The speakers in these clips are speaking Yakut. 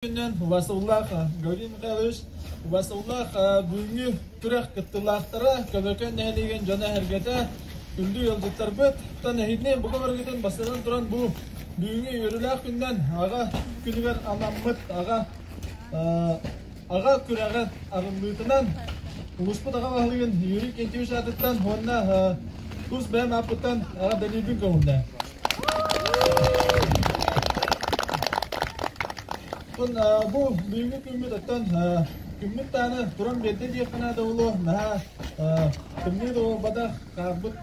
Васыллаах Горинҥҥа үс Васыллаах бүгүҥҥү күрэх кыттыылаахтара Көбөкөн нэһилиэгин дьоно-сэргэтэ күндү ыалдьыттарбыттан эһигини бука барыгытын бастатан туран бу бүгүҥҥү үөрүүлээх күнүнэн аҕа күнүгэр анаммыт аҕа аҕа күрэҕин арыллыытынан улууспут аҕа баһылыгын Юрий Кентевич аатыттан уонна тус бэйэм ааппыттан аҕа дэлиибин көҕүллэ. бу бүгүҥҥү күммүт оттон күммүт даҕаны туран биэрдэ диэххэ наада буолуо наһаа тымныы да буолбатах хаахпыт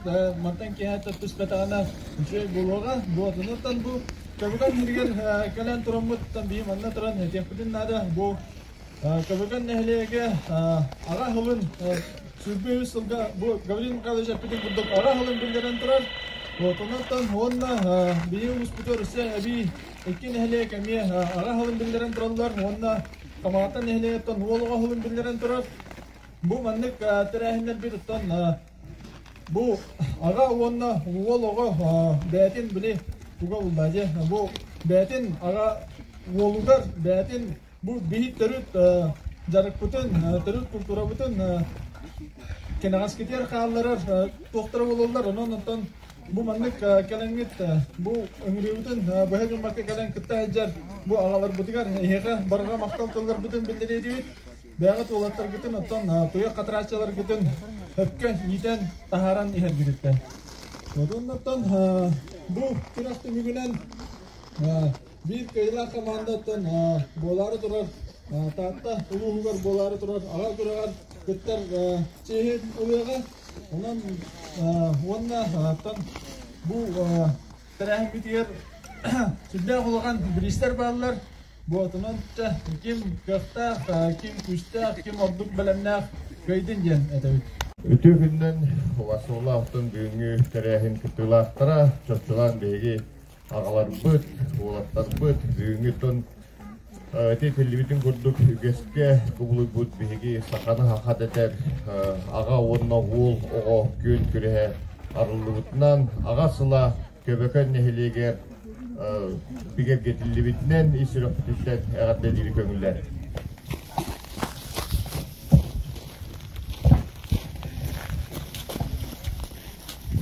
мантан киэһэ түспэтэҕинэ үчүгэй буолуоҕа буолат оттон бу чабыган иһигэр кэлэн тураммыттан бийи манна туран этиэхпитин наада бу Көмөкөн нэһилиэгэ аҕа сылын сүүрбэ үс сылга бу Гаврил Михайлович эппитин курдук аҕа сылын биллэрэн турар. Вот оннуттан уонна биһиги улууспуту Россия эбии икки нэһилиэк эмиэ аҕа сылын биллэрэн тураллар уонна Хамаата нэһилиэгиттэн уол оҕо сылын биллэрэн турар. Бу маннык тэрээһиннэрбит оттон бу аҕа уонна уол оҕо бээтин били туга булда бу бээтин аҕа уолугар бээтин Бу биһик төрүт дьарыкпытын, төрүт култуурабытын кэнэҕэскитигэр хаалларар туохтара буолаллар, онон-онтон бу маннык кэлэҥҥит бу ыҥырыыбытын быһа гыммакка кэлэн кытта сылдьар бу аҕаларбытыгар эһиэхэ барҕа махтал тылларбытын биллэриэбит. Бэйэҕит уолаттаргытын, оттон туйах хатарааччыларгытын өпкө иитэн, таһааран иһэргититтэн. Оттон бу күрэх түмүгүнэн биир кыайыылаах командаттан буолаары турар Таатта улууһугар буолаары турар аҕа күрэҕэр кыттар чиэһин ылыаҕа. Онон уонна Тааттан бу тэрээһиммитигэр сүрдээх улахан бириистэр бааллар. Бу атынан ким кыахтаах, ким күүстээх, ким ордук бэлэмнээх кыайдын диэн этэбит. Үтүө күннэн Васола алтын бүгүҥҥү тэрээһин кыттыылаахтара, чопчулаан биһиги аҕаларбыт, уолаттарбыт бүгүҥҥү тон ити этиллибитин курдук үгэскэ кубулуйбут биһиги саханы хахат этэр аҕа уонна уол оҕо күөн күрэһэ арыллыбытынан аҕа сыла Көбөкөн нэһилиэгэр бигэргэтиллибитинэн ис сүрэхпититтэн эҕэрдэлиири көҥүллэр.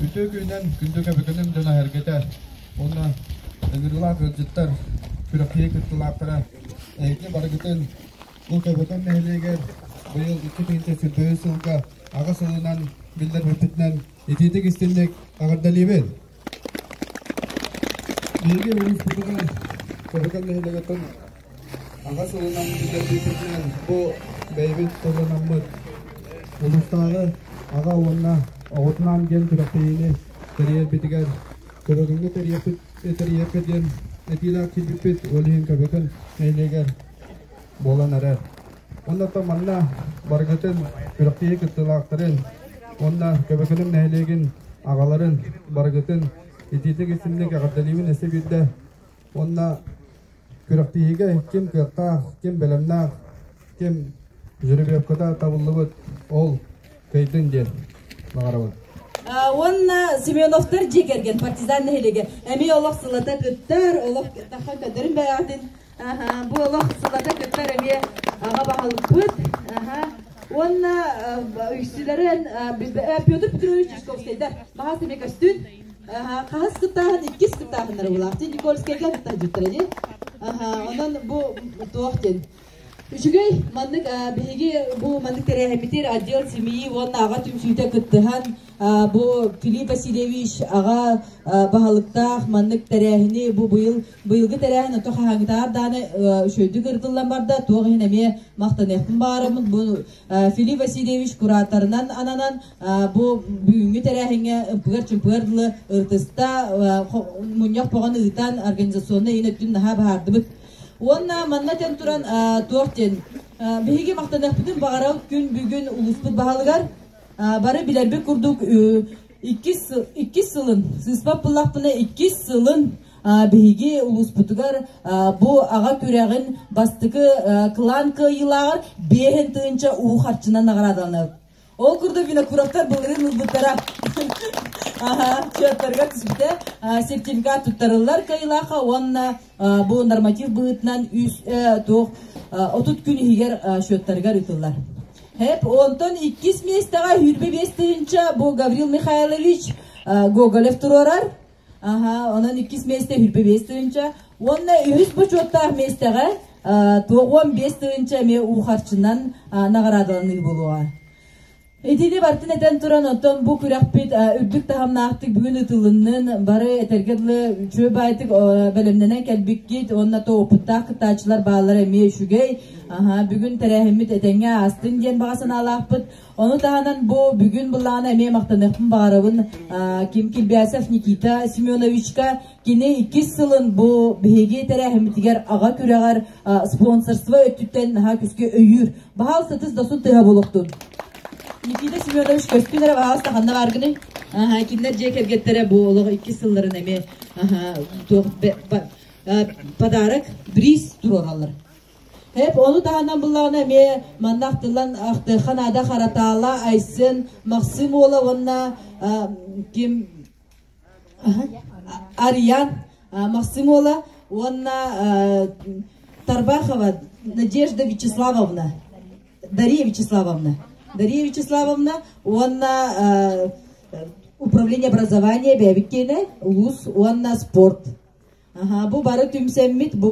Үтүө күнүнэн күндүгэ бөтөнүн дьон эһэргэтэ уонна ыҥырыылаах ыалдьыттар, күрэхтэһии кыттыылаахтара эһиги барыгытын Ултаабытын нэһилиэгэр быйыл икки тыһыынча сырдайыы сылга аҕыс сылынан биллэрбиппитинэн итиитик-истинник эҕэрдэлиибин! Биһиги улууспутугар Таһыган нэһилиэгиттэн аҕа сылынан бүтэрбиппитинэн бу бэйэбит сылланаммыт улуустааҕы аҕа уонна оҕотунаан диэн күрэхтэһиини тэрийэрбитигэр көрөрүҥҥэ тэрийэппит диэн этиилээх киирбиппит ол иһин көбөтүн нэһилиэгэр буолан эрэр оннуттан манна барыгытын күрэхтэһии кыттыылаахтарын уонна көбөкүнүм нэһилиэгин аҕаларын барыгытын итиитик итинник эҕэрдэлиибин өссө биирдэ Уонна күрэхтииһигэ ким кыахтаах, ким бэлэмнээх, ким жеребьевката табыллыбыт ол кыйтын диэн баҕарабын. уонна Семеновтар дьиэ кэргэн партизан нэһилиэгэ эмиэ олох сылата кыттар олох тахха көтөрүн бэйэҕитин бу олох сылата кыттар эмиэ аҕа баһылыкпыт уонна үксүлэрин Петр Петрович Чусковскайдар баһаас эмиэ көстүн хаҕыс кытаан иккис кытааһыннара булаахтын никольскайга атыттаһыдьыттара ди онон бу туох диэн Үчүгэй маннык биһиги бу маннык тэрээһиммитир отдел семьи уонна аҕа түмсүүтэ кыттыһан бу Филипп Васильевич аҕа баһылыктаах маннык тэрээһини бу быйыл быйылгы тэрээһин ото хаһаангытаар дааны үчөйдүк ырытыллан барда туох иһин эмиэ махтаныахпын баарыммын бу Филипп Васильевич кураторынан ананан бу бүгүҥҥү тэрээһиҥҥэ ымпыгар-чымпыгар дылы ыртыста мунньах поҕон ыытан организационнай иин өттүн наһаа баһаардыбыт. Уонна манна тэн туран туох диэн биһиги махтаныахпытын баҕарар күн бүгүн улууспут баһылыгар бары билэрбит курдук иккис сылын сыыспат пыллахпына иккис сылын биһиги улууспутугар бу аҕа күрэҕин бастакы клан кыайыылааҕар биэһин тыынча уу харчынан наҕараадаланабыт ол курдук винокуровтар былырыын ылбыттара счеттарыгар түспүтэ сертификат туттарыллар кыайыылаахха уонна бу норматив быһыытынан үс туох отут күн иһигэр счеттарыгар ыытыллар хэп онтон иккис миэстэҕэ сүүрбэ биэс тыһыынча бу гаврил михайлович гоголев туруорар Аха, онон иккис месте хүрпэ бес тыынча. Уонна үһүс бочуоттаах местэҕэ туоҕуон бес тыынча эмиэ уухарчынан наҕараадаланыы болуоа. Итини бартын этен туран оттон бу күрәхпит үрдүк таһымнаахтык бүгүн ытылыннын бары этерге дылы үчүө байтык бэлэмнэнен кэлбиккит онна то опыттаах кыттаачылар баалар эмиэ үчүгэй аха бүгүн тэрээһиммит этеңе астын диэн баҕа санаалаахпыт Ону таһынан бу бүгүн былаана эмиэ махтаныахпын баарабын Ким Кильбясов Никита Семеновичка кини иккис сылын бу биһиги тэрээһиммитигэр аҕа күрэҕэр спонсорство өттүттэн наһаа күскэ өйүүр баһаал сытыс досун тыһа болохтун Никита Семенович көстүн эрэ баһаал стаханна бааргыны кинилэр дьиэ кэргэттэрэ бу олох иккис сылларын эмиэ подарок бриз туруораллар Эп ону таһынан былаана эмиэ манна ахтыллан ахтыаха наада Харатаала, Айсен, Максим Уола уонна ким Арьян, Максим Уола уонна Тарбахова Надежда Вячеславовна, Дария Вячеславовна, Дария Вячеславовна уонна управление образования бэбиккиэнэ улуус уонна спорт. Аха, бу бары түмсэммит бу